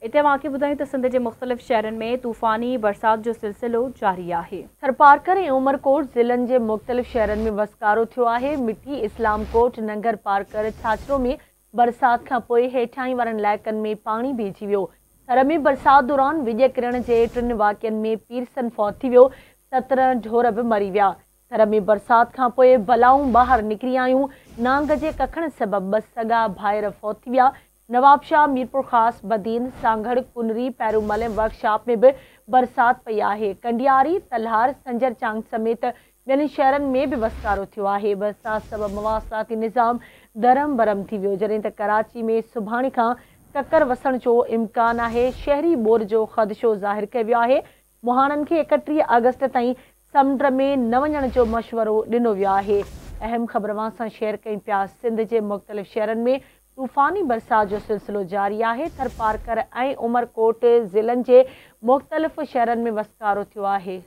اتي اوهان کي ٻڌايون ته سنڌ جي مختلف شهرن ۾ طوفاني برسات جو سلسلو جاري آهي. ٿرپارڪر ۽ عمرڪوٽ ضلعن جي مختلف شهرن ۾ وسڪارو ٿيو آهي. مٺي، اسلام ڪوٽ، ننگر پارڪر، ڇاڇرو ۾ برسات کان پوء هيٺاهين وارن علائقن ۾ پاڻي ڀيجي ويو. ٿر ۾ برسات دوران وڄ ڪرڻ جي ٽن واقعن ۾ پيرسن فوت ٿي ويو، سترهن ڍور به مري ويا. ٿر ۾ برسات کان پوء بلائون ٻاهر نڪري آيون، نانگ جي ڪکڻ سبب ٻه سڳا ڀائر فوت ٿي ويا، نوابشاهه، ميرپورخاص، بدين، سانگهڙ، ڪنري، پيرومل ۽ ورڪ شاپ ۾ به برسات پئي آهي. ڪنڊياري، تلهار، سنجر چانگ سميت ٻين شهرن ۾ به وسڪارو ٿيو آهي. برسات سبب مواصلاتي نظام درهم برهم ٿي ويو، جڏهن ته ڪراچي ۾ سڀاڻي کان ڪڪر وسڻ جو امڪان آهي. شهري ٻوڏ جو خدشو ظاهر ڪيو ويو آهي. مهاڻن کي ايڪٽيهه آگسٽ تائين سمنڊ ۾ نه وڃڻ جو مشورو ڏنو ويو آهي اهم خبر اوهان سان شيئر ڪيون پيا سنڌ جي مختلف شهرن ۾ طوفاني برسات جو سلسلو جاري آهي ٿرپارڪر ۽ عمرڪوٽ ضلعن جي مختلف شهرن ۾ وسڪارو ٿيو آهي.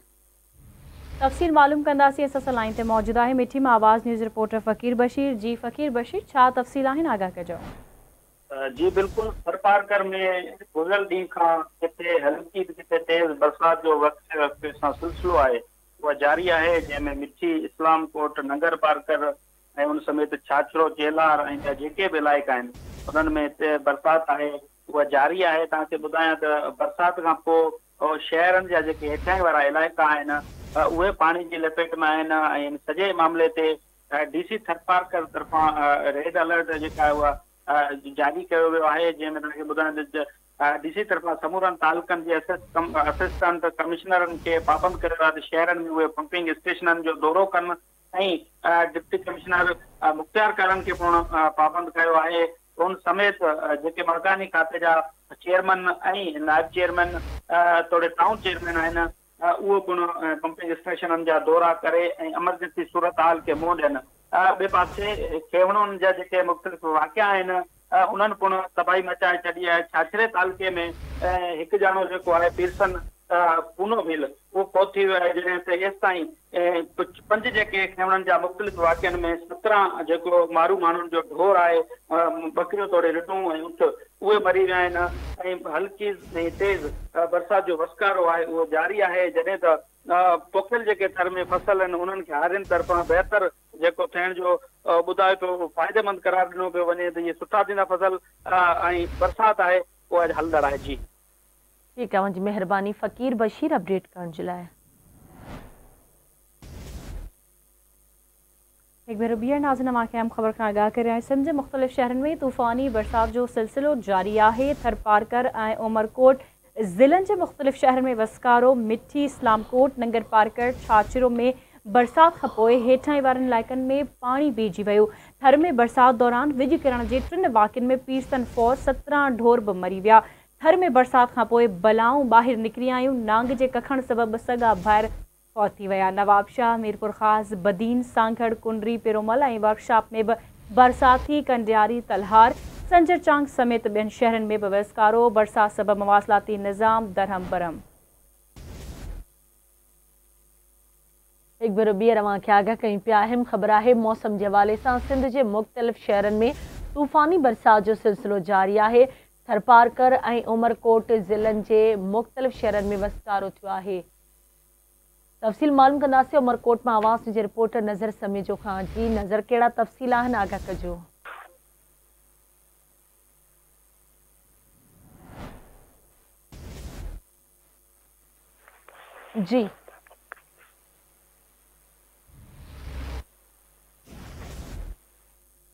تفصيل معلوم ڪنداسين اسان سان لائين تي موجود آهي مٺي مان آواز نيوز رپورٽر فقير بشير جي فقير بشير ڇا تفصيل آهن آگاهه ڪجو. جي بلڪل ٿرپارڪر ۾ گذريل ڏينهن کان ڪٿي هلڪي ته ڪٿي تيز برسات جو وقفي وقفي سان سلسلو آهي اها جاري آهي جنهن ۾ مٺي، اسلام ڪوٽ، ننگرپارڪر ۽ ان سميت ڇاڇرو، چيلار ۽ ٻيا جيڪي به علائقا آهن انهن ۾ تيز برسات آهي اها جاري آهي توهان کي ٻڌايان ته برسات کان پوء شهرن جا جيڪي هيٺاهين وارا علائقا آهن اهي پاڻي جي لپيٽ ۾ آهن ۽ ان سڄي معاملي تي ڊي سي ٿرپارڪر طرفان ريڊ الرٽ جيڪا آهي اها جاري ڪيو ويو آهي جنهن ۾ توهان کي ٻڌايان ته ڊي سي طرفان سمورن تعلقن جي اسسٽنٽ ڪمشنرن کي پابند ڪيو ويو آهي ته شهرن ۾ اهي پمپنگ اسٽيشنن جو دورو ڪن ۽ ڊپٽي ڪمشنر مختيار ڪارن کي پڻ پابند ڪيو آهي ان سميت جيڪي باغاني کاتي جا چيئرمين ۽ نائب چيئرمين توڙي ٽائون چيئرمين آهن اهو پڻ ڪمپني اسٽيشنن جا دورا ڪري ۽ امرجنسي صورتحال کي منهن ڏين. ٻئي پاسي کيوڻن جا جيڪي مختلف واقعا آهن انهن پڻ تباهي مچائي ڇڏي آهي. ڇاڇري تعلقي ۾ هڪ ڄاڻو جيڪو آهي پيرسن پونوڀيل اهو فوت ٿي ويو آهي جڏهن ته ايستائين اهي ڪجهه پنج جيڪي کينوڻن جا مختلف واقعن ۾ سترهن جيڪو مارو ماڻهن جو ڍور آهي، ٻڪريون توڙي رڍون ۽ اونٺ، اهي مري ويا آهن ۽ هلڪي ۽ تيز برسات جو وسڪارو آهي اهو جاري آهي جڏهن ته پوکيل جيڪي ٿر ۾ فصل آهن انهن کي هارين طرفان بهتر جيڪو ٿيڻ جو ٻڌايو پيو فائديمند قرار ڏنو پيو وڃي ته اهي سٺا ٿيندا فصل ۽ برسات آهي اها اڄ هلندڙ آهي جي. ٺيڪ اوهان جي مهرباني فقير بشير اپڊيٽ ڪرڻ جي لاء. هڪ ڀيرو ٻيهر ناظرين اوهان کي اهم خبر کان آگاهه ڪريان سنڌ جي مختلف شهرن ۾ طوفاني برسات جو سلسلو جاري آهي ٿرپارڪر ۽ عمرڪوٽ ضلعن جي مختلف شهرن ۾ وسڪارو مٺي اسلام ڪوٽ ننگرپارڪر ڇاڇرو ۾ برسات کان پوء هيٺاهين وارن علائقن ۾ پاڻي بيهجي ويو ٿر ۾ برسات دوران وڄ ڪرڻ جي ٽن واقعن ۾ پيرسن فور سترهن ڍور به مري ويا ٿر ۾ برسات کان پوء بلائون ٻاهر نڪري آيون، نانگ جي ڪکڻ سبب سڳا ڀائر فوت ٿي ويا، نوابشاهه، ميرپورخاص، بدين، سانگهڙ، ڪنري، پيرومل ۽ ورڪشاپ ۾ به برسات ٿي، ڪنڊياري، تلهار، سنجر چانگ سميت ٻين شهرن ۾ به وسڪارو، برسات سبب مواصلاتي نظام درهم برهم. هڪ ڀيرو ٻيهر اوهان کي آگاهه ڪيون پيا اهم خبر آهي موسم جي حوالي سان سنڌ جي مختلف شهرن ۾ طوفاني برسات جو سلسلو جاري آهي ٿرپارڪر ۽ عمرڪوٽ ضلعن جي مختلف شهرن ۾ وسڪارو ٿيو آهي تفصيل معلوم ڪنداسي عمرڪوٽ مان آواز نيوز جي رپورٽر نظر سميجو کان جي نظر ڪهڙا تفصيل آهن آگاهه ڪجو جي.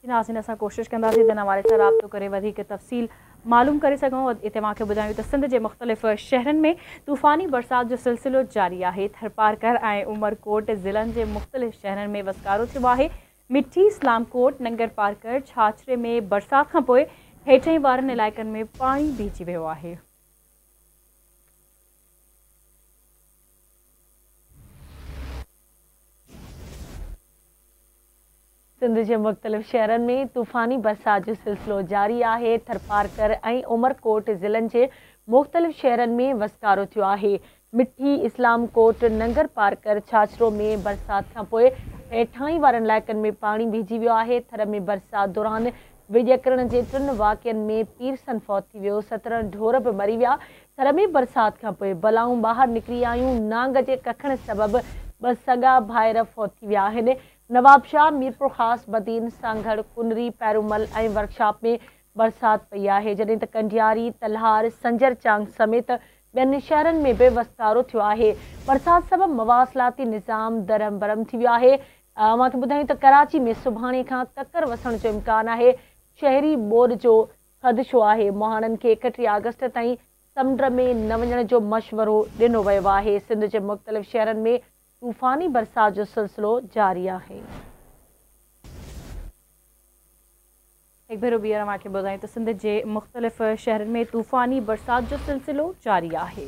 ناظرين اسان ڪوشش ڪنداسين ته ان حوالي سان رابطو ڪري وڌيڪ تفصيل معلوم ڪري سگهون ۽ توهان کي ٻڌايون ته سنڌ جي مختلف شهرن ۾ طوفاني برسات جو سلسلو جاري آهي ٿرپارڪر ۽ عمرڪوٽ ضلعن جي مختلف شهرن ۾ وسڪارو ٿيو آهي مٺي سلامڪوٽ ننگرپارڪر ڇاڇري ۾ برسات کانپوء هيٺين وارن علائقن ۾ پاڻي بيهجي ويو آهي. سنڌ جي مختلف شهرن ۾ طوفاني برسات جو سلسلو جاري آهي، ٿرپارڪر ۽ عمرڪوٽ ضلعن جي مختلف شهرن ۾ وسڪارو ٿيو آهي، مٺي، اسلام ڪوٽ، ننگرپارڪر، ڇاڇرو ۾ برسات کانپوء هيٺاهين وارن علائقن ۾ پاڻي بيهجي ويو آهي، ٿر ۾ برسات دوران ويڄڪرڻ جي ٽن واقعن ۾ پيرسن فوت ٿي ويو، سترهن ڍور به مري ويا، ٿر ۾ برسات کان پوء بلائون ٻاهر نڪري آيون، نانگ جي ڪکڻ سبب ٻه سڳا ڀائر فوت ٿي ويا آهن، نوابشاهه، ميرپورخاص، بدين، سانگهڙ، ڪنري، پيرومل ۽ ورڪشاپ ۾ برسات پئي آهي، جڏهن ته ڪنڊياري، تلهار، سنجر چانگ سميت ٻين شهرن ۾ به وسڪارو ٿيو آهي، برسات سبب مواصلاتي نظام درهم برهم ٿي ويو آهي، اوهان کي ٻڌايون ته ڪراچي ۾ سڀاڻي کان ڪڪر وسڻ جو امڪان آهي، شهري ٻوڏ جو خدشو آهي، مهاڻن کي اڪٽيهه آگسٽ تائين سمنڊ ۾ نه وڃڻ جو مشورو ڏنو ويو آهي، سنڌ جي مختلف شهرن ۾ طوفاني برسات جو سلسلو جاري آهي. هڪ ڀيرو ٻيهر اوهان کي ٻڌايون ته سنڌ جي مختلف شهرن ۾ طوفاني برسات جو سلسلو جاري آهي.